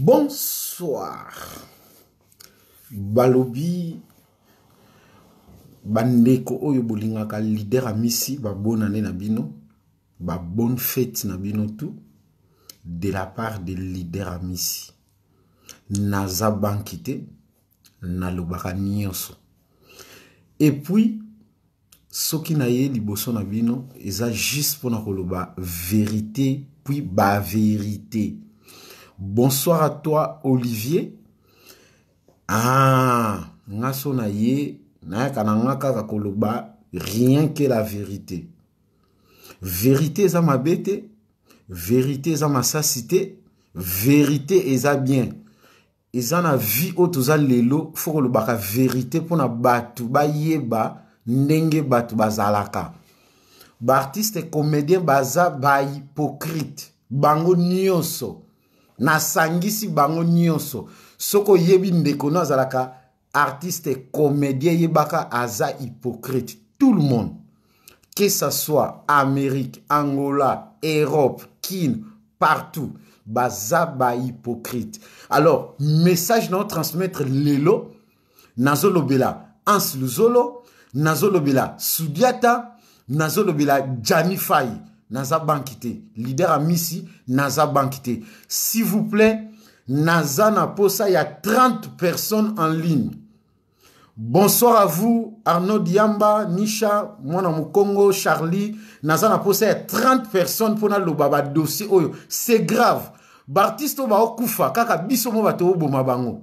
Bonsoir. Balobi bandeko oyo bolingaka leader amisi babonane na bino ba bonne fete na bino tout de la part de leader amisi naza banki te nalobaka nyonso epuis soki na ye liboso na bino eza juste pona koloba verite puis ba verite bonsoir à toi olivier ah nga so na ye nayaka na nga kaka koloba rien que la verite verite eza mabe te verite eza masasi te verite eza bien eza na vie oyo toza lelo fo kolobaka verite mpo na bato bayeba ndenge bato bazalaka baartiste comédien baza bahypocrite bango nyonso nasangisi bango nyonso soki oyebi ndeko no azalaka artiste comedien yebaka aza hypocrite tout le monde que ça soit amérique angola europe kin partout baza bahypocrite alors message nao transmettre lelo nazolobela ans luzolo nazolobela sudiata nazolobela jani fai naza banki te leader ya misi naza banki te s'il vous plaît naza na posa ya 30 personnes en ligne bonsoir à vous arnaud diamba nisha mwana mokongo charlie naza na posa ya 30 personnes mpo naloba badossier oyo c'est grave baartiste oyo baokufa kaka biso mo bato oboma bango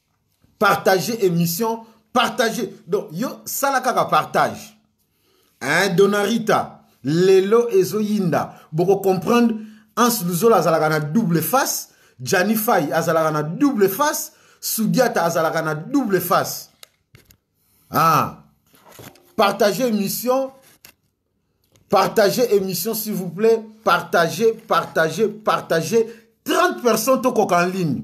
partage émission partage donc yo sala kaka partage hein, donarita lelo ezoyinda bokocomprendre ans luzola azalaka na double face jani fai azalaka na double face sudiata azalaka na double face ah. partage émission Partagez émission, s'il vous plaît. Partagez, partagez, partagez. 30 personnes tokoka en ligne.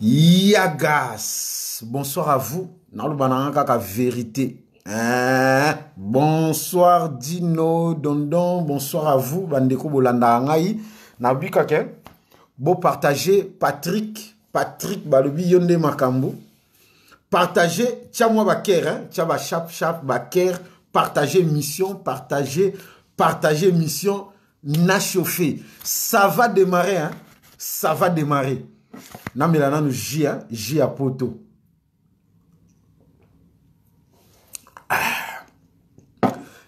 Yagas, bonsoir à vous. Naloba na kaka vérité. Hein? Bonsoir Dino Dondon, bonsoir à vous bandeko bolanda ngai. Nabika ke bo partager Patrick, Patrick balobi yonde makambu. Partager tia moi ba cœur hein, tia ba chap chap ba cœur, partager mission, partager partager mission. na chauffe ça va démarrer hein? ça va démarrer namela nanu ji hein? ji ya poto ah.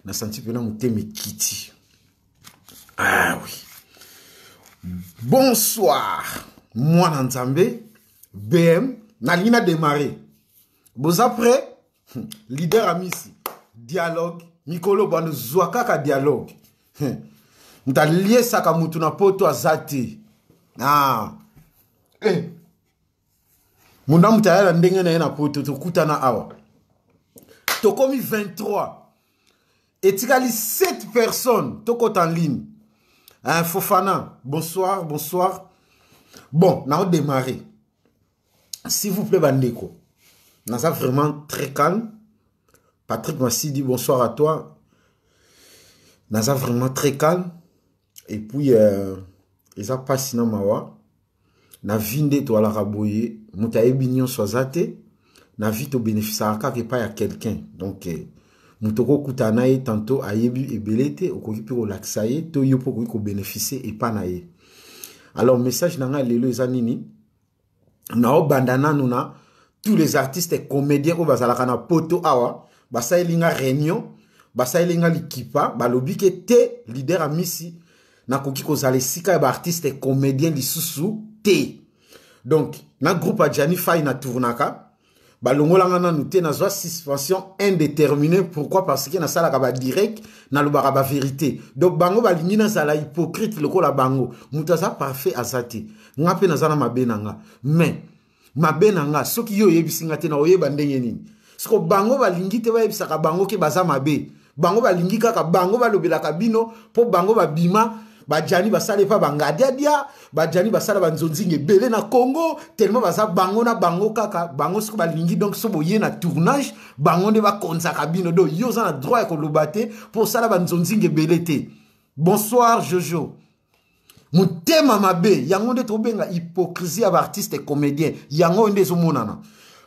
nasanti mpena motema ekiti ah oui bonsoir mwana nzambe bm nalingi na démarrer boza prêt hmm. leader amisi dialogue mikolo bando zwa kaka dialogue hmm. moto aliesaka motu na poto aza te ah. eh. moto na moto aya na ndenge na ye na poto tokutana awa tokomi 23 etikali 7 personnes tokota en ligne hein, fofana bonsoir bonsoir bon naodémarre s'il vous plaît bandeko naza vraiment très calme patrick masidi bonsoir à toi naza vraiment très calme et puis euh, eza mpasi na mawa na vie nde toalaka boye moto ayebi nyonso aza te na vie tobénéficiaka kaka epai ya quelqu'un donc eh, moto okokutana na ye tanto ayebi ebele te okoki mpe kolakisa ye to yo mpe okoki kobénéficie epai na ye alors message na ngai lelo eza nini naobanda nanu na tous les artistes comédiens oyo bazalaka na poto awa basaleli nga réunion basaleli nga likipa balobi ke te leader ya misi nakoki kozala esika ya baartiste comédien lisusu te donc na groupe ya jani fai na tournaka balongolanga nanu te nazwa suspension indéterminée pourquoi parce que nasalaka badirect nalobaka baverité donc bango balingi nazala hypocrite lokola bango moto aza parfait aza te nga mpe naza na mabe na nga mais mabe na nga soki yo oyebisi nga te na oyeba ndenge nini siko bango balingi te bayebisaka bango ke baza mabe bango balingi kaka bango balobelaka bino mpo bango babima bajani basala epa bangadiadia bajani basala banzonzinga ebele na congo tellement baza bango na bango kaka bango soki balingi donc so boye na tournage bango nde bakonzaka bino donc yo oza na droit ya koloba te mpo osala banzonzinga ebele te bonsoir jojo motema mabe yango nde tobenga hypocrisie ya baartiste comédien yango oyo nde ezomonana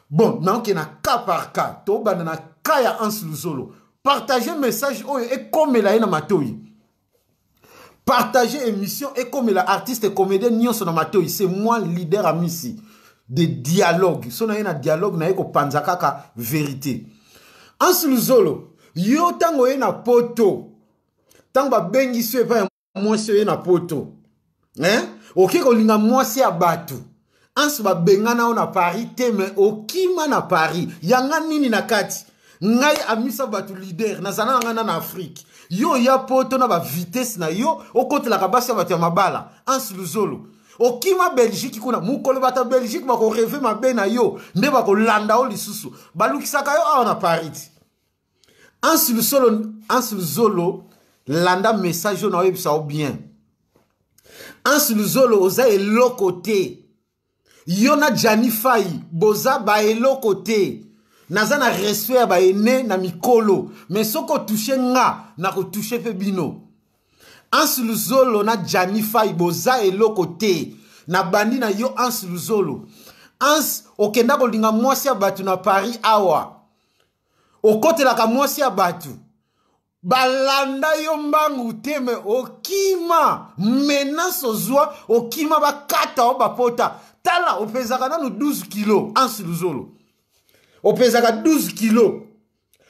bon naoke na cas par cas tobanda na cas ya hans luzolo partage message oyo ekomela ye na matoi partage émission ekomela artiste comédien nyonso na matoi c'est moi leader amisi de dialogue so na ye na dialogue na ye kopanza kaka verité hans luzolo yo ntango oye na poto ntango babengisi yo epai mwasi oye na poto eh? oke kolinga mwasi ya bato anso babengana yo na paris te me okima na paris yanga nini na kati ngai amisa bato lider nazala na ngai na na afrike yo oya poto na bavitese na yo okotelaka basi ya bato ya mabala ansi luzolo okima belgique kuna mokolo bato ya belgique bakoreve mabe na yo nde bakolanda yo lisusu balukisaka yo awa na paris ansi luzolo landa message oyo naoyebisa yo bien ansi luzolo oza eloko te yo na jani fai boza baeloko te naza na respect ya baene na mikolo me soki otouche nga nakotouche mpe bino ansi luzolo na jani fai boza eloko te nabandi na yo ansi luzolo ansi okenda kolinga mwasi ya bato na paris awa okotelaka mwasi ya bato balanda yo mbangu te me okima menace ozwa okima bakata o bapota tala opezaka nanu 12 kilo ansi luzolo opezaka 12 kilo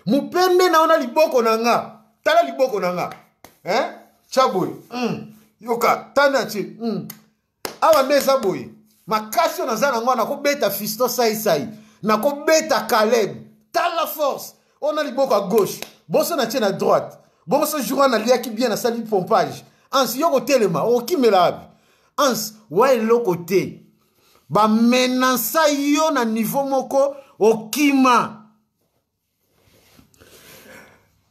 mopende na yo na liboko na nga tala liboko na nga eh? tya boye mm. yoka tana ce mm. awa nde eza boye makasi oyo naza nango nakobeta fiston saisai nakobeta caleb tala force oyo na liboko ya gauche boso natie na droite bongo so jour wana naliaki bien nasali pompage ansi yo kotelema okimela wapi ansi wa eloko te bamenansa yo na niveau moko okima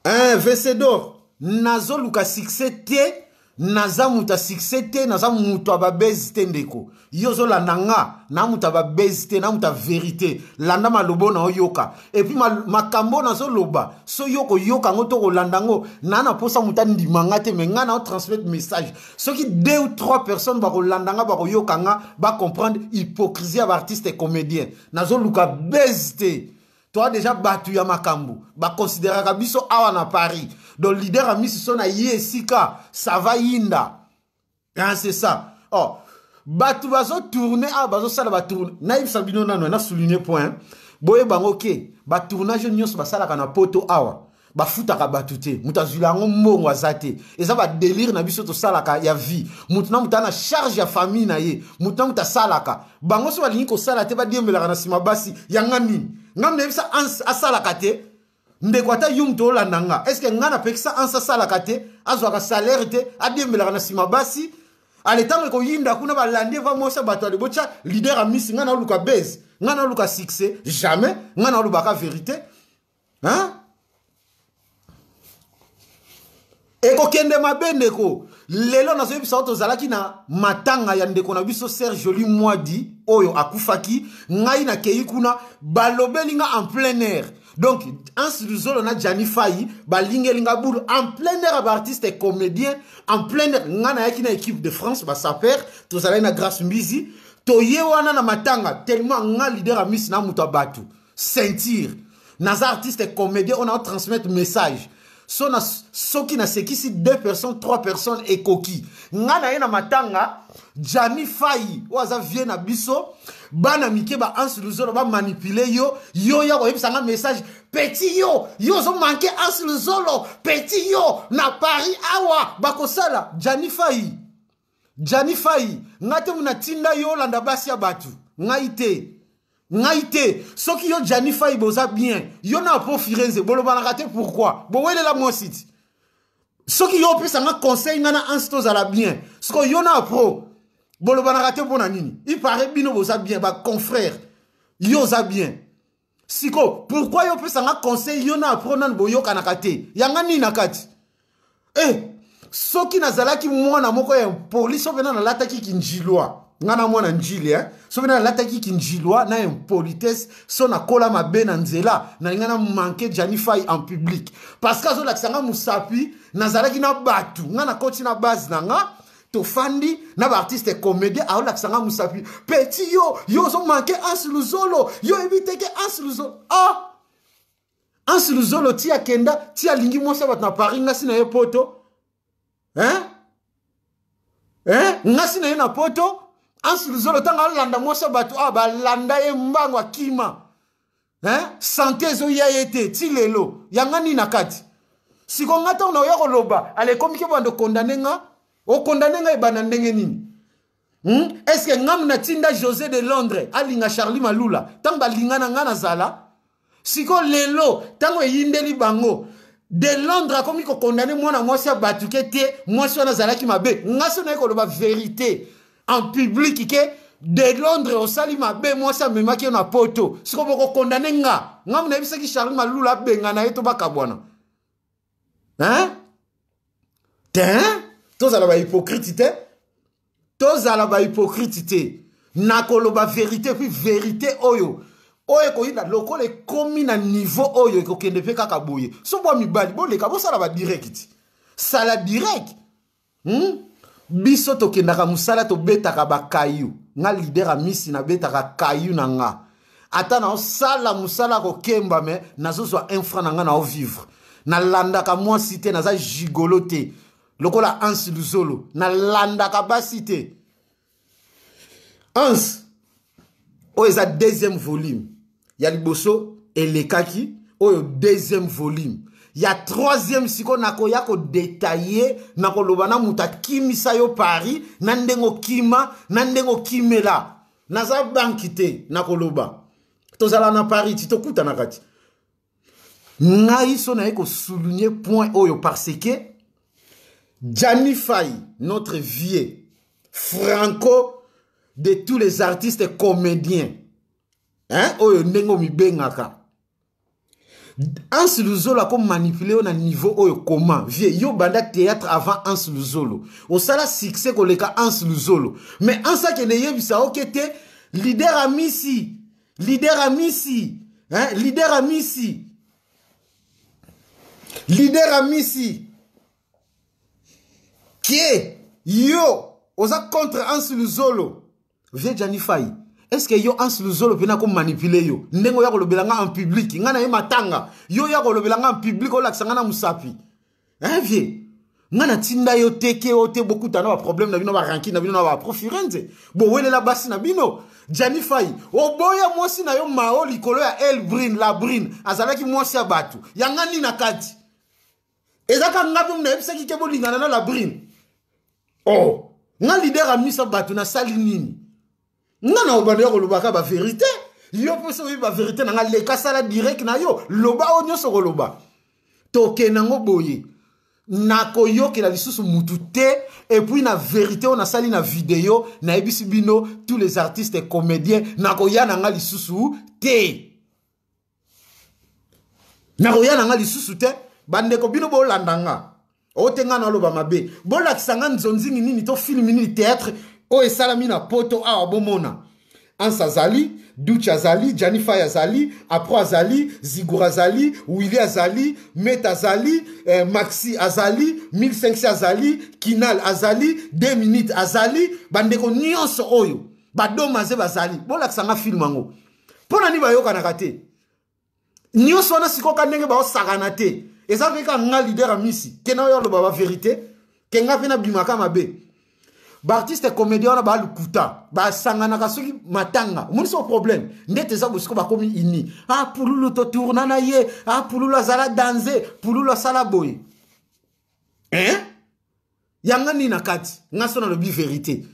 eh, vesedor nazoluka succès te naza moto ya succès te naza moto ya babezi te ndeko yo ozolanda nga na moto ya babezi te na moto ya verité landa malobo na oyoka epuis makambo oyo nazoloba so yo koyoka yango to kolanda yango naa na mposa moto andima nga te me ngai na otransmettre message soki deux ou trois personnes bakolanda nga bakoyoka nga bacomprendre hypocrisie ya baartiste comédien nazoluka bezi te toa deja bato ya makambo bakonsideraka biso awa na paris donc lider ya misiso na ye esika sava yinda hein, c'est ça oh, bato bazotourne awa bazosala batourne nayebisa bino nano na souligne point boye bango ke batournage nyonso basalaka na poto awa bafutaka bato te moto azwila yango mbongo aza te eza badelire na biso tosalaka ya vie moto na moto ana charge ya famille na ye moto na moto asalaka bango so balingi kosala te badiembelaka na nsima basi yanga nini ngai nayebisa asalaka te ndeko ata yo moto olanda nga estce ngai napekisa ansa asalaka te azwaka salaire te adiembelaka na nsima basi ale ntango ekoyinda kuna balandi eva mwasi ya bato ale botya lider ya misi ngai naoluka base ngai naoluka succès jamais ngai naolobaka verité hein? ekokende mabe ndeko lelo nazoyebisa yo tozalaki na matanga ya ndeko na biso ser joli mwadi oyo akufaki ngai nakei kuna balobeli nga en plein air donc anse luzolo na jani fai balingeli nga bulu en plein air ya baartiste comédien en plein air ngai nayaki na équipe de france basaper tozalaki na grace mbizi toye wana na matanga tellement nga leader ya misi na moto ya bato sentir naza artiste comédien oyo nao transmettre message so na, soki nasekisi deux personnes trois personnes ekoki ngai na ye na matanga jami fai oyo aza vie na biso bana mike ba anse luzolo bamanipule yo yo ya koyebisa ngai message peti yo yo ozomanke anse luzolo peti yo na paris awa bakosala jani fai Jani Fayi, ngai te muna tinda yo landa basi ya batu. Ngai te. Ngai te. Soki yo Jani Fayi boza bien, yo na po Firenze bolobanaka te pourquoi? Bowelela mwasi ti. Soki yo opesa nga conseil nga na Hans tozala bien. Siko yo na pro bolobanaka te mpo na nini? Il paraît bino boza bien ba confrères. Yo oza bien. siko pourkui yo opesa nga conseil yo na apro nani boyokanaka te yanga nini na kati e eh, soki nazalaki mwana moko ya impoli so mpena nalataki kinjilwa nga na mwana njili eh? so mpena nalataki kinjilwa na impolitesse so nakola mabe na nzela nalinga na manke janifai en public parce que azolakisa nga mosapi nazalaki na bato nga nakoti na base na nga tofandi na baartiste comédien aolakisa nga mosapi peti yo yo ozomanke ansi luzolo yo oyebi te ke ansi luzolo ah! ansi luzolo ti akenda ti alingi mwasi ya bato na paris ngasi na ye poto hein? hein? ngasi na ye na poto ansi luzolo ntango alanda mwasi ya bato awa ah, balanda ye mbango akima hein? sante ezoya ye te ti lelo yanga nini na kati siko nga ntango naoya koloba ala ekomiki banda okondane nga okondane nga ebanda ndenge nini hmm? est ce que ngamu natinda josé de londres alinga charlie malula ntango balinga na nga nazala siko lelo ntango eyindeli bango de londres akomi kokondane mwana mwasi abatuke te mwasi wana azalaki mabe nga so naye koloba verite en public ke de londres osali mabe mwasi amemaki yo na poto siko bokokondane nga nga munayebisaki charli malula abengana ye to bakabwana hein te tozala bahypokrite te tozala bahypokrite te nakoloba verité puis verité oyo oyo ekoyinda lokola ekomi na niveau oyo ekokende mpe kaka boye so bwa mibali boleka bosala badirect sala direct hmm? biso tokendaka mosala tobetaka bakayu nga lider ya misi nabetaka kayu na nga ata naosala mosala kokemba me nazozwa infra na nga naovivre nalandaka mwasi te naza gigolo te lokola ansi luzolo nalandaka basi te Hans, oyo eza deuxième volume ya liboso elekaki oyo deuxième volume ya troisième sikoyo nakoya kodetaille nakoloba na moto akimisa yo paris na ndenge okima na ndenge okimela naza banki te nakoloba tozala na paris ti tokutanaka ti ngai so naye kosouligne point oyo parce que jani fai notre vieux franco de tous les artistes comédiens hein? oyo ndenge omibengaka Hans Luzolo ako manipule yo na niveau oyo koma vie yo banda théâtre avant Hans Luzolo osala succès koleka Hans Luzolo mais Hans akende yebisa oke te leader amisi leader amisi hein? leader amisi leader amisi kie yo oza contre anse luzolo vie janifai est ce que yo anse luzolo mpena akomanipule yo ndenge oya kolobela nga en public nga na ye matanga yo oya kolobela nga en public olakisa nga na mosapi eh vie nga natinda yo te ke o te bokuta na baproblème na bino baranki na bino na baprofirenze bowelela basi na bino jani fai oboya mwasi na yo mao likolo ya elbrine labrine azalaki mwasi ya bato yanga nini na kati eza ka nga mpe nayebisaki ke bolingana na labrine o oh, nga lider amisa bato nasali nini nga na obanda ya kolobaka baverité yo mpe soki baverité na nga leka sala direct na yo loba oyo nyonso okoloba tokende yango boye nakoyokela lisusu mutu te epuis na verité oyo nasali na video nayebisi bino tous les artistes comédiens nakoya na nga lisusu te nakoya na nga lisusu te bandeko bino bolanda nga oyo te nga naloba mabe bolakisa nga nzonzingi nini to filme nini théâtre oyo esalami na poto awa bomona ansa azali duchi azali janifai azali apro azali zigour azali willi azali met azali eh, maxi azali 1500 azali kinal azali 2 minutes azali bandeko nyonso oyo badomaze bazali bolakisa nga filme yango mpo na nini bayokanaka te nyonso wana sikoka ndenge baosakana te eza mpe ka nga lider ya misi te na oyo aloba baverité ke nga mpe nabimaka mabe baartiste comédien wana balukuta basanganaka soki matanga omonisi o problème ndete eza bosiko bakomi ini a ah, pululu totourna na ye a ah, pululu azala danze pululu asala boye eh? yanga nini na kati nga so nalobi verite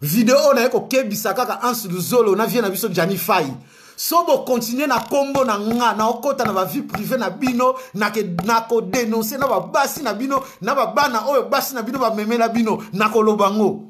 video oyo naye kokebisa kaka anse luzolo na vie na biso jani fai so bokontinue na nkombo na nga naokɔta na bavie prive na bino nakodenonse na babasi na bino na babana oyo basi na bino bamemela bino nakoloba yango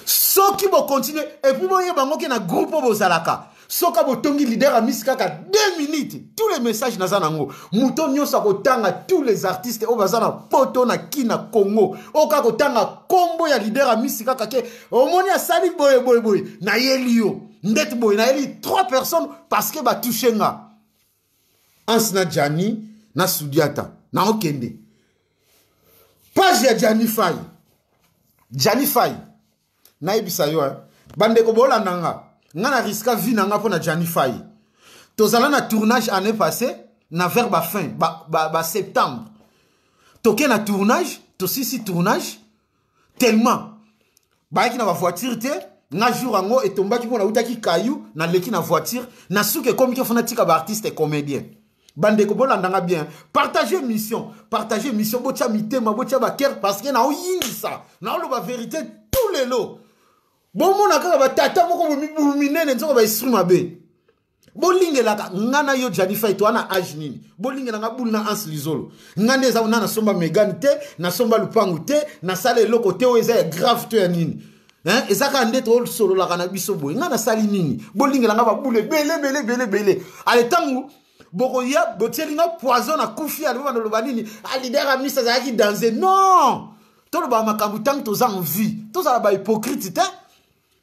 soki bokontinue epuis boyeba yango ke na groupe oyo bozalaka soki botongi lider ya misi kaka 2 minutes tous les messages naza nango moto nyonso akotanga tous les artistes oyo baza na poto na kina congo oyo kaka kotanga kombo ya lider ya misi kaka ke omoni asali boye boye boye nayeli yo ndeti boye nayeli 3 personnes parce que batouche nga Hans na Gianni na Sudiata na okende page ya Gianni Fay Gianni Fay nayebisa yo eh. bandeko bolanda nga nga na riska vie na nga mpo na Gianni Fay tozala na tournage année passée na vers ba fin ba, ba, ba septembre toke na tournage tosisi tournage tellement bayaki na bavoiture te nga jour yango etombaki mpo nautaki kayu naleki na voiture na suka ekomiki fo natika baartiste comédien bandeko bolanda nga bien partage mission partage mission botya mitema botya bakere parce que naoyingisa naoloba verité tout lelo bomona kaka batata moko bomibu minene nzoka baesprit mabe bolingelaka nga na yo jani fai toa na age nini bolingela nga bulu na anse lizolo nga nde eza na nasomba megane te nasomba lupangu te nasala eloko te oyo eza ya grave to ya nini eh? eza kaka nde tosololaka na biso boye nga nasali nini bolingela nga babulu ebele ebele ebele ebele ale ntango bokoya botieli nga poison na kufi alobeba naloba nini alider ah, amisi azalaki danse non tolobaka makambo ntango toza en vie tozala bahypocrite te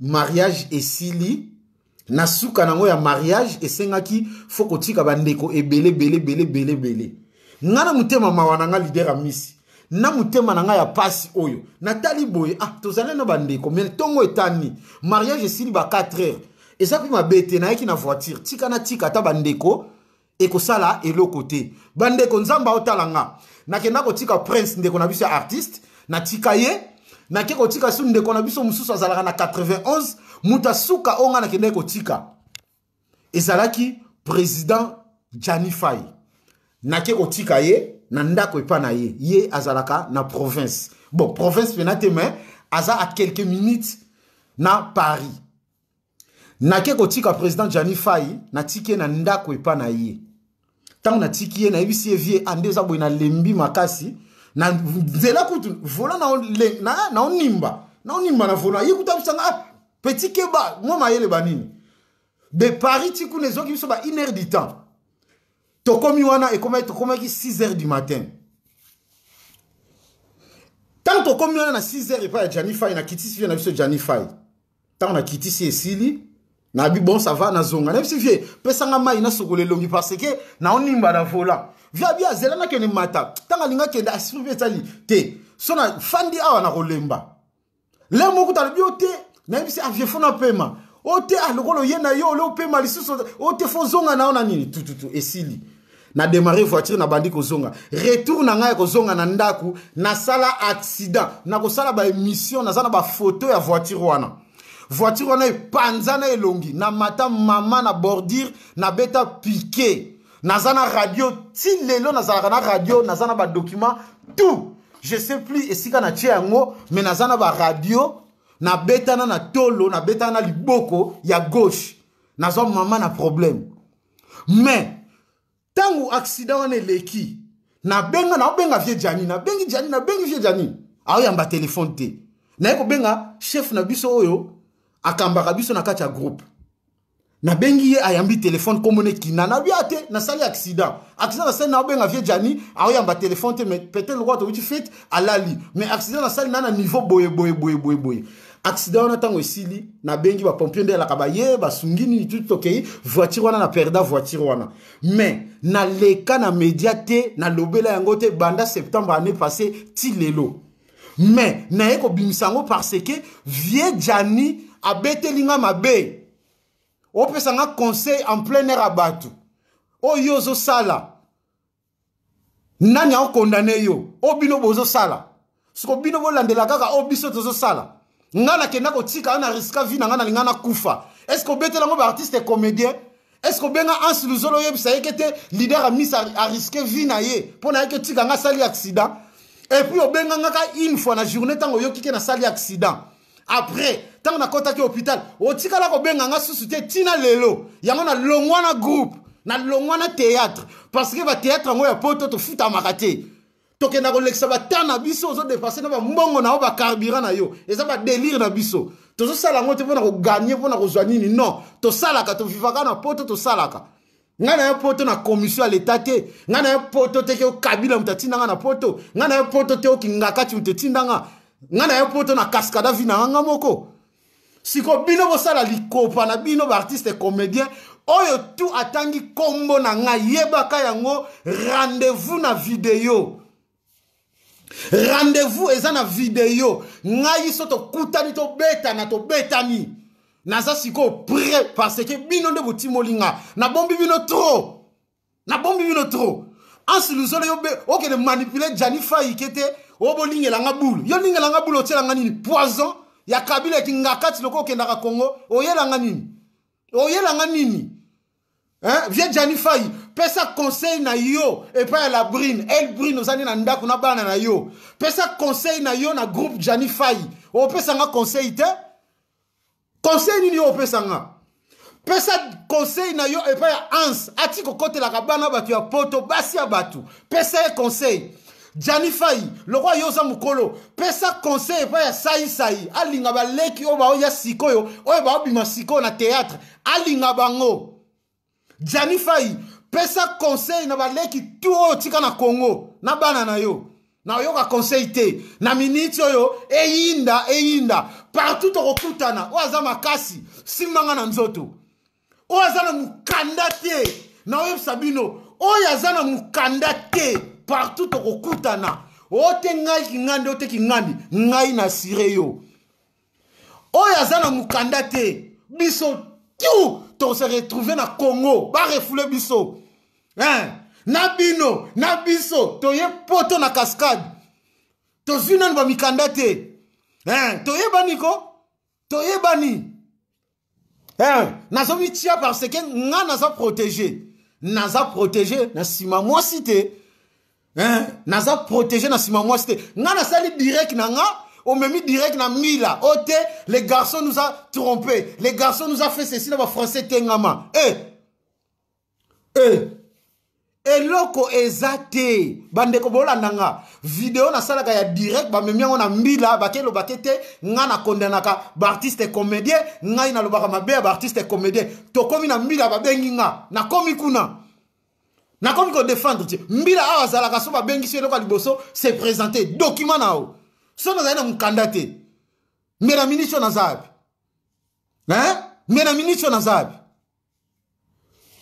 mariage esili na suka nango ya mariage esengaki fo kotika bandeko ebele bele bele bele bele nga na motema mawa na nga lider amisi na motema na nga ya pasi oyo natali boye ah tozali na bandeko me ntongo etani mariage esili ba 4 heures eza mpe mabe te nayaki na voiture tika na tika ata bandeko ekosala eloko te bandeko nzambe aotala nga nakenda kotika prince ndeko na biso ya artiste natika ye nake kotika su ndeko na biso mosusu azalaka na 91 moto asuka oyo ngai nakendaki kotika ezalaki président janifai nake kotika ye na ndako epa na ye ye azalaka na province bon province mpena te mais aza a quelques minutes na paris nake kotika president jani fai natiki ye na ndako epa na ye ntango natiki ye nayebisi ye vie ande eza boye nalembi makasi na nzela kutu vola naonimba naonimba na vola ye kutu abisanga ah, petit keba mwa mayele banini de paris ti kuna ezoki biso ba une heure du temps tokomi wana ekomaki tokomaki 6 heures du matin ntango tokomi wana na 6 heures epai ya janifai na kitisi vie na biso janifai ntango nakitisi esili nabi bon ça va nazonga nayebisi vie pesanga mai nasokola elongi parce que naonimba na volant vie abi azela nakende mata ntango alinga kende asipi mpe etali te so na fandi awa nakolemba le moko talobi o te nayebisi avie fo napema o te alokola oye na yo ole opema lisusu o te fo ozonga na yo na nini tututu esili na démarrer voiture na bandi kozonga retour na ngai ya kozonga na ndako nasala accident nakosala baémission naza na bafoto ya voiture wana voiture wana epanzana elongi na mata mama na bordure nabeta pike naza na radio ti lelo nazalaka na radio naza na badocument tout je sais plus esika na tie yango me naza na baradio nabetana na tolo nabetana na liboko ya gauche nazwa mama na problème mais ntango accident wana eleki nabenga naobenga vie jani nabengi jani nabengi vie jani aoyamba telefone te naye kobenga chef na biso oyo akambaka biso na kati ya groupe nabengi ye ayambi telefone komona ekina nabi a te nasali accident accident nasali naobenga vie jani aoyamba telefone te mais peut-être lokola towuti fete alali mais accident nasali na na niveau boye boye boye boye boye accident wana ntango esili nabengi bapompier nde alaka baye basungi nini tuti tokei voiture wana na perda voiture wana mais naleka na media te nalobela yango te banda septembre année passé ti lelo mais naye kobimisa yango parce que vieux jani abeteli nga mabe opesa nga conseil en plein air ya bato oyo ozosala nani aokondane yo oyo bino bozosala siko bino bolandela kaka oyo biso tozosala ngai nakenda kotika yo na riska vi na ngai nalinga nakufa estce obetela yango baartiste comédien estce obenga anse luzolo oyebisa yeke te lider ya mis ariske vi na ye mpo na yeke otika ngai asali accident epuis obenga ngai ka une fois na journée ntango oyoki ke nasali accident après ntango nakɔtaki hôpital otikala kobenga nga susu te ntina lelo yango nalongwa na groupe nalongwa na théâtre parce que bathéâtre yango ya poto tofutamaka te tokenda kolekisa bata na biso ozodepanse na bambongo na yo bacarburant na yo eza badelire na biso tozosala yango te mpo na koganye mpo na kozwa nini non tosalaka tovivaka na poto tosalaka ngai na ya poto na commission ya leta te ngai na ya poto te ke okabila moto atinda ngai na poto ngai na ya poto te okingakati moto etinda ngai ngai na ya poto na cascada vi na nga nga moko siko bino bosala likopa na bino baartiste comédien oyo tu atangi nkombo na ngai yebaka yango rendez-vous na video rendez-vous eza na video ngai so tokutani tobetana tobetani naza sikoyo prêt parce que bino nde botimoli nga nabombi bino trop nabombi bino trop ansi luzolo yo be okende manipule jani faike te oyo bolingela nga bulu yo lingela nga bulu otyela nga nini poison ya kabila ekingakati lokola okendaka congo oyela nga nini oyela nga nini Hein? Vieux Gianni Fayi, pesa conseil na yo epai ya la brune, el brune oza nde na ndako na bana na yo. Pesa conseil na yo na groupe Gianni Fayi. Opesa nga conseil te? Conseil nini yo opesa nga? pesa conseil na yo epai ya hans ati kokotelaka bana bato ya poto basi ya bato pesa ye conseil jani fai lokola yo oza mokolo pesa conseil epai ya saisai alinga baleki oyo baoya sikoyo oyo baobima sikoyo na théâtre alinga bango jani fai pesa conseil na baleki tu oyo tika na congo na bana na yo nayoka conseil te na miniti oyo eyinda eyinda partout tokokutana oyo aza makasi simbanga na nzoto oyo aza na mokanda te naoyebisa bino oyo aza na mokanda te partout tokokutana ote ngai kingandi ote kingandi ngai na sire yo oyo aza na mukanda te biso tu tose retrouve na congo barefoule biso hein? na bino na biso toye poto na cascade tozwi nanu bamikanda te hein? toyebani ko toyebani eh, nazo mitia parce que nga naza protege naza protege na nsima mwasi te eh, naza protege na nsima mwasi te nga nasali direct na nga omemi direct na mila o oh, te le garçon nous a trompé le garçon nous a fait ceci na bafrançais tengama eh, eh. eloko eza te bandeko bolanda nga video nasalaka ya direct bamemi yango na mbila bakelobake te ngai nakondanaka baartiste comédien ngai nalobaka mabe ya baartiste comédien tokomi na mbila babengi nga nakomi kuna nakomi kodefendre te mbila awa azalaka so babengisi eloko ya liboso se présente document na yo so nazali na mokanda te mbela ministre naza yapi mbela ministre naza yapi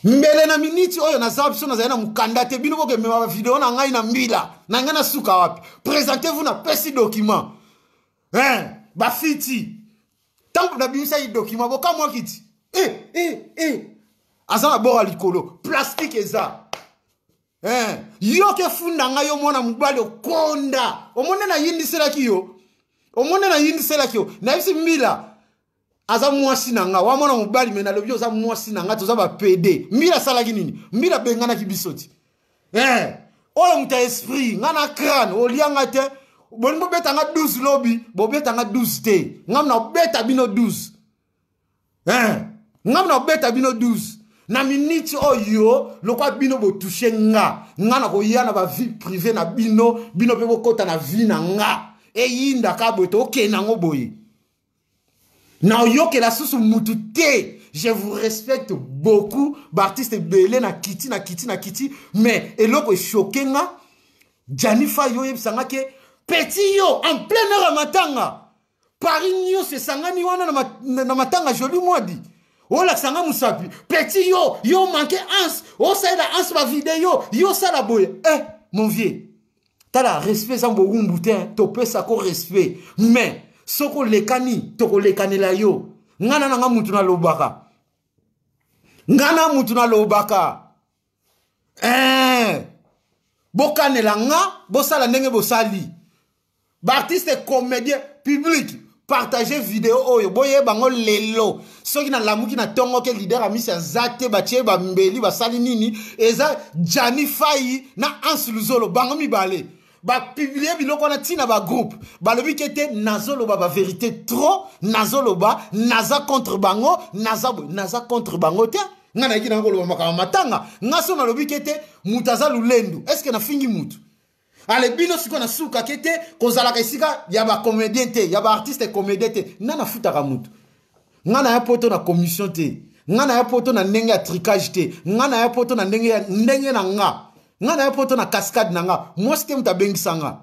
mbele na miniti oyo naza biso nazali na mokanda te bino bokemema bavideo na ngai na mbila na ngai na suka wapi presente vous napesi document eh, bafiti ntango nabimisaki document bokamwaki ti eh, eh, eh. aza na bora likolo plastike eza eh, yo ke funda ngai yo mwana mobali okonda omoni nayendiselaki yo omoni nayendiselaki yo nayebisi mbila aza mwasi na nga wa mwana mobali me nalobi oza mwasi na nga toza bapede mbila asalaki nini mbila abenganaki biso ti eh, oyo moto ya esprit nga na crane olia nga te bolingi bobeta nga 12 lobi bobeta nga 12 te ngam na obeta bino 12 eh, ngam na obeta bino 12 na miniti oyo lokwa bino botushe nga nga na koya na bavie privé na bino bino mpe bokɔta na vie na nga eyindaka boye tokende yango boye na oyokela susu mutu te je vous respecte beaucoup baartiste ebele na kiti na kiti na kiti mais eloko eshoke nga janifa yo oyebisa nga ke petit yo en plein heure ya matanga paris nyonso esangani wana na, mat, na matanga joli mwadi olakisa nga mosapi petit yo yo manke ans osalela ans bavideo yo osala boye eh mon vieux tala respect eza bowumbu te topesa ko respect mais soki olekani tokolekanela yo ngai na nanga mutu nalobaka ngai na mutu nalobaka eh, bokanela nga bosala ndenge bosali baartiste comédien public partage video oyo boye bango lelo soki nalamuki na ntongo ke lider amisi aza te batie bambeli basali nini eza jani fai na hans luzolo bango mibale bapiblie biloko wana ntina bagroupe balobi ke te nazoloba baverité trop nazoloba naza contre bango naza boye naza contre bango te ngai nayaki nanga koloba makambo matanga ngai so nalobi ke te moto aza lolendo estce nafingi motu ale bino sikoyo nasukaki te kozalaka esika ya bacomédien te ya baartiste comédien te ngai nafutaka motu ngai naya poto na commission te ngai naya poto na ndenge ya tricage te ngai naya poto na ndenge ya ndenge na nga ngai naya poto na cascade na nga mwasi te moto abengisa nga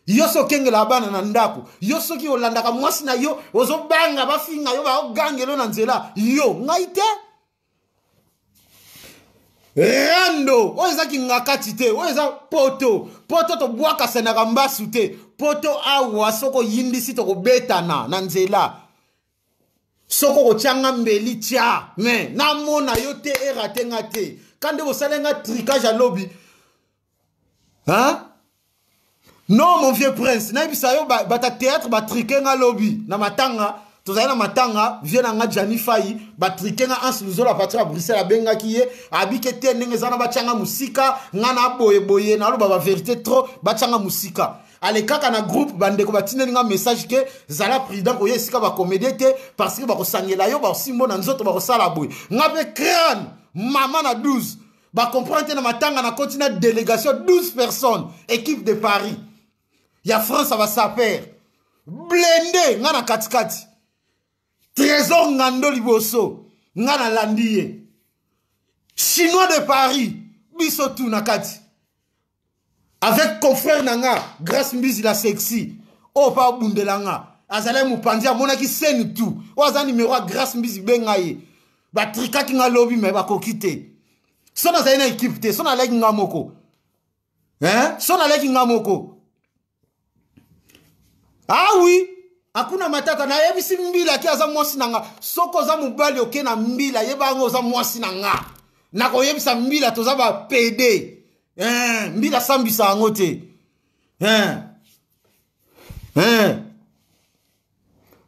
yo soki okengelaka bana na ndako yo soki olandaka mwasi na yo ozobanga bafinga yo baogangelo na nzela yo ngai te rando oyo eza kingakati te oyo eza poto poto tobwakasanaka mbasu te poto awa soki oyimbisi tokobetana na nzela soki okotyanga mbeli tya me namona yo te erate nga te ka nde bosali nga trikage ya lobi hein? non mon vieux prince nayebisa yo bata théâtre batrike nga lobi na matanga tozali na matanga vie na nga jani fai batrike nga anse luzolo apartir ya bruxelles abengaki ye abike te ndenge eza na batyanga mosika nga na boyeboye naloba baverité trop batyanga mosika alekaka na groupe bandeko batindeli nga message ke zala prudent koya esika bakomedie te parce que bakosangela yo baosimbo na nzoto bakosala boye nga mpe crane mama na 12 ba comprendre te na matanga na koti na délégation 12 personnes équipe de paris ya france ya basaper blende nga na katikati trésor ngando liboso nga nalandi ye chinois de paris biso tu na kati avec confrère na nga grace mbizi la sexy oyo mpe abundela nga azalaki mopanzi amonaki seni tu oyo aza nimero ya grace mbizi benga ye batrikaki nga lobi me bakoki te so nazali na ekipe te so naleki nga moko so naleki nga moko ah oui akuna matata nayebisi mbila ke aza mwasi na nga soki oza mobali oke na mbila yeba yango oza mwasi na nga nakoyebisa mbila toza bapede eh, mbila asambisa yango te eh. Eh.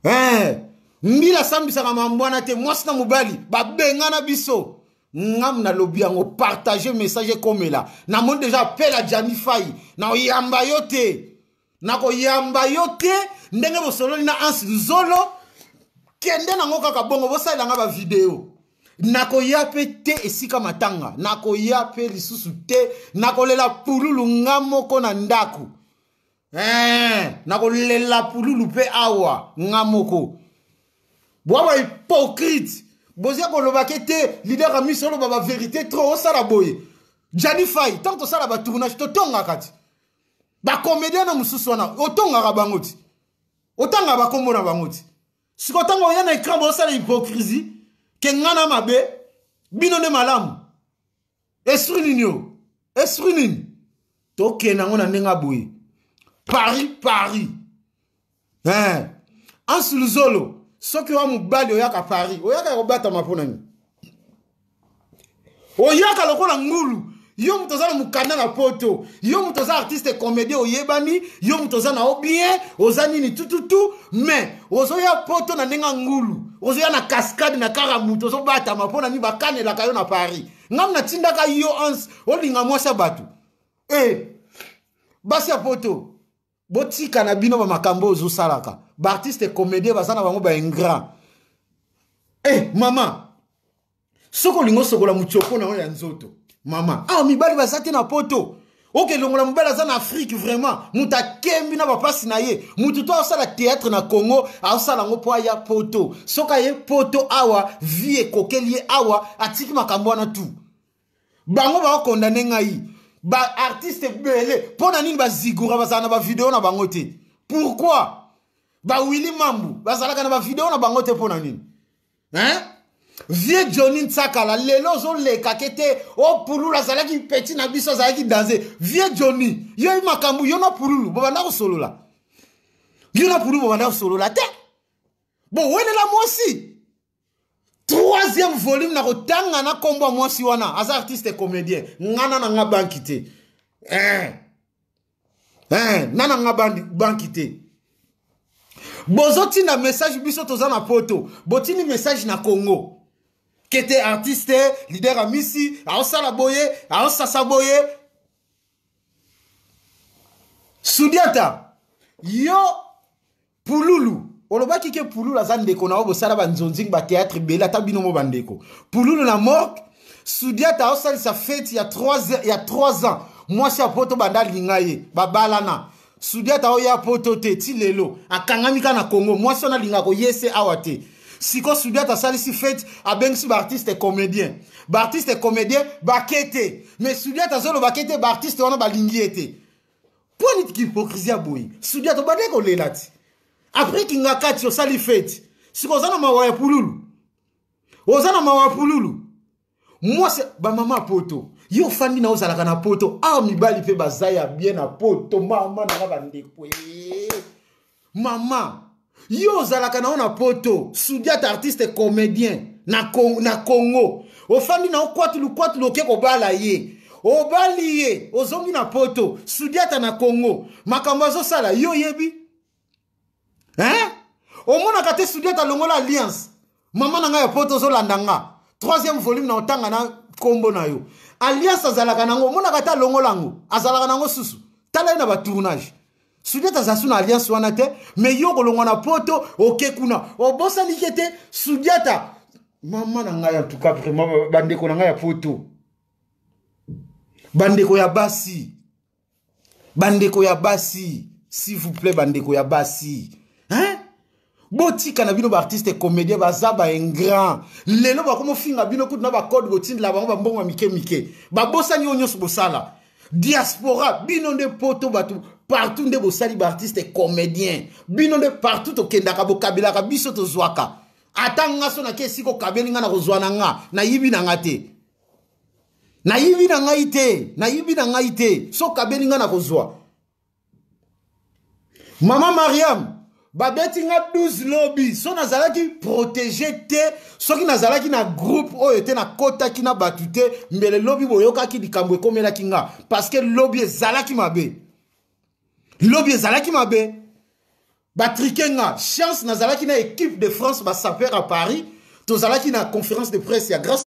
eh, mbila asambisaka mambo wana te mwasi na mobali babengana biso ngam nalobi yango partage message ekomela namoni deja apela jani fai nakoyamba yo te nakoyamba yo te ndenge bosololi na anse nzolo kende nango kaka bongo bosalela nga bavideo nakoya mpe te esika matanga nakoya mpe lisusu te nakolela pululu nga moko na ndako ee eh, nakolela pululu mpe awa nga moko bwa bahypocrite boza kolobake te lidaka miso oloba baverité trop osala boye jani fai ntango tosala batournage totongaka ti bacomédien na mosusu wana otongaka bango ti otangaka bakombo na bango ti siko ntango oya na écran bosala hypocrisie ke nga na mabe bino nde malamu esprit nini oyo esprit nini tokenda yango na ndenge ya boye paris paris eh. ansuluzolo soki oya mobali oyaka paris oyaka ya kobatama mpo na nini oyaka lokola ngulu yo moto oza na mokanda na poto yo moto oza artiste comédien oyebani yo moto oza na obien oza nini tututu mais ozoya poto na ndenge ya ngulu ozoya na cascade na kaka moto ozobatama mpo na nini bakanelaka yo na paris ngam natindaka yo ans olinga mwasi ya bato e eh, basi ya poto botika na bino bamakambo oyo ozosalaka baartiste comédien baza na bango baingrat e eh, mama soki olingi osokola motioko na yo ya nzoto mama ah mibali baza te na poto oke longola mobali aza na afrike vraiment moto akembi na bapasi na ye moto to asala théâtre na congo asala yango mpo aya poto soki aye poto awa vie ekokeli ye awa atiki makambo wana tu bango bakokondane ngai baartiste ebele mpo na nini bazigura bazala na bavideo na bango te pourkui bawili mambu bazalaka na bavideo na bango te mpo na nini hein vieux johnny nsakala lelo ozoleka ke te o oh, pululu azalaki peti na biso azalaki danse vieux johnny yo makambo yo na pululu bobanda kosolola yo na pululu bobanda kosolola te bowelela mwasi troisième volume na kotanga na nkombo ya mwasi wana aza artiste comédien ngana na nga banki te eh. eh, na na nga banki te bozotinda message biso toza na poto botindi message na congo kete artiste lider ya misi aosala boye aosasa boye sudiata yo pululu olobaki ke pululu aza ndeko na yo bosala banzonzing bateatre ebele ata bino mo bandeko pululu na morke sudiata aosalisa feti ya 3 ya 3 ans mwasi ya poto banda alinga ye babalana sudiata aoya poto te ti lelo akangami kaka na congo mwasi wana alinga koye se awa te siko sudiata asalisi feti abengisi baartiste comédien baartiste comédien bake te mais sudiata azoloba ke te baartiste wana balingi ye te mpo niti kihypokrisi ya boye sudia tobandaki kolela ti apres kingakati osali feti siko oza na mawa ya pululu oza na mawa ya pululu mwasi bamama poto yo ofandi na ozalaka na poto awa ah, mibali mpe baza ya bien na poto mama nanga bandeko eh. Maman, yo ozalaka na yo na poto, Sudiat artiste comédien na, Con na Congo. Ofandi na yo kwatu lukwatu loke kobala ye. Obali ye, ozongi na poto, Sudiata na Congo. Makambo azosala, yo oyebi? Hein? Omonaka te Sudiata longola alliance? mama na ngai ya poto ozolanda nga troisième volume na otanga na nkombo na yo alliance azalaka nango omonaka ata alongola yango azalaka nango susu tala ye na batournage sudete aza su na alliance wana te me yo kolongwa na poto oke kuna obosanike te sudiata mama na ngai antuka vraiment bandeko na ngai ya poto bandeko ya basi bandeko ya basi s'il vous plaît bandeko ya basi hein? botika na bino baartiste comédien baza baingrand lelo bakomofinga bino kutu na bacode botindela bango bambongo ya mike mike babosani oyo nyonso bosala diaspora bino nde poto bato partout nde bosali baartiste comédien bino nde partout tokendaka bokabelaka biso tozwaka ata nga so nake esika okabeli nga na kozwa na nga nayibi na nga te nayibi na ngai te nayibi na ngai te soki abeli ngai nakozwa mama mariam babeti nga 12 lobi so nazalaki protege te soki nazalaki na groupe oyo te nakotaki na bato te mbele lobi boyokaki likambo ekomelaki nga parceke lobi ezalaki mabe lobi ezalaki mabe batrike nga chance nazalaki na équipe de france basaper à paris tozalaki na conférence de presse ya grace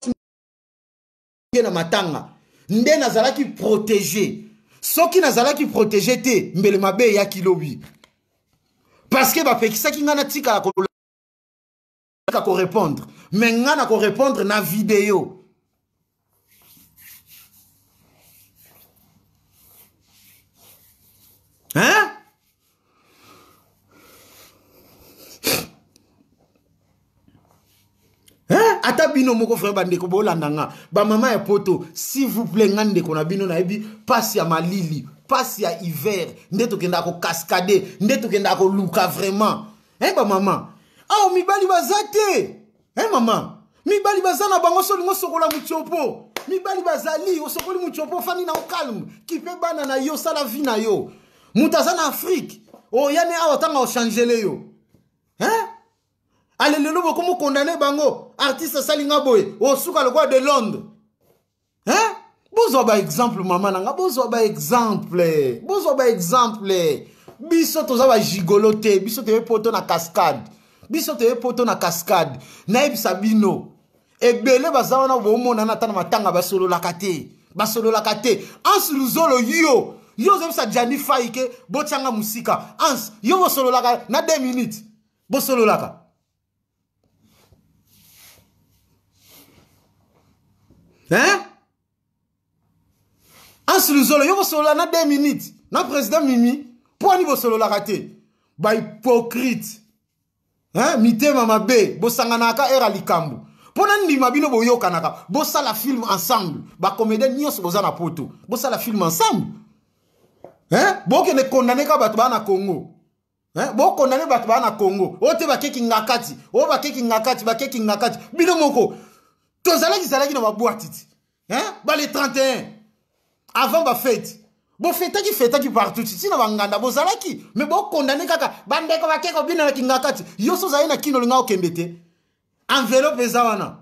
na matanga nde nazalaki protege soki nazalaki protege te mbele mabe eyaki lobi parceke bapekisaki ngai natikala kolaka korepondre me ngai na korepondre na video hein Hein? ata bino moko vraimen bandeko bolanda nga bamama ya poto s'il vous plaît nga ndeko na bino nayebi mpasi ya malili mpasi ya hiver nde tokendaka kokaskade nde tokendaka koluka vraiment e eh, bamama awa mibali baza te eh mama mibali baza na bango solingo sokola mutiopo mibali bazali osokoli mutiopo ofandi na okalme kipe bana na yo sala vi na yo moto aza na afrike oyani oh, awa ntanga ochangele yo hein alelelo bokomokondane bango artiste asali nga boye osuka lokola de londres hein? bozwa baexemple mama na nga bozwa baexemple bozwa baexemple biso toza bajigolo te biso toye poto na cascade biso toye poto na cascade nayebisa bino ebele baza wana bomonana ata na matanga basololaka te basololaka te anse luzolo yo yo ozobisa jani fai ke botyanga mosika ans yo bosololaka na 2 minutes bosololaka hein ansi luzolo yo kosolola na 2 minutes na président mimi mpo ani bosololaka te bahypocrite hein? mitema mabe bosanganaka era likambo mpo na ndima bino boyokanaka bosala film ensemble bacomédien nyonso boza na poto bosala film ensemble hein? bokende kondaneka bato baa na congo Eh, bokondane bato baa na congo oyo te bakeki ngakati oyo bakeki ngakati bakeki ngakati bino moko tozalaki zalaki na babwatiti eh, bale 31 avant bafeti bofetaki fetaki partout titi na banganda bozalaki me bokondane kaka bandeko bakeki obina na kingakati yo so ozali na kino olinga okende te envelope eza wana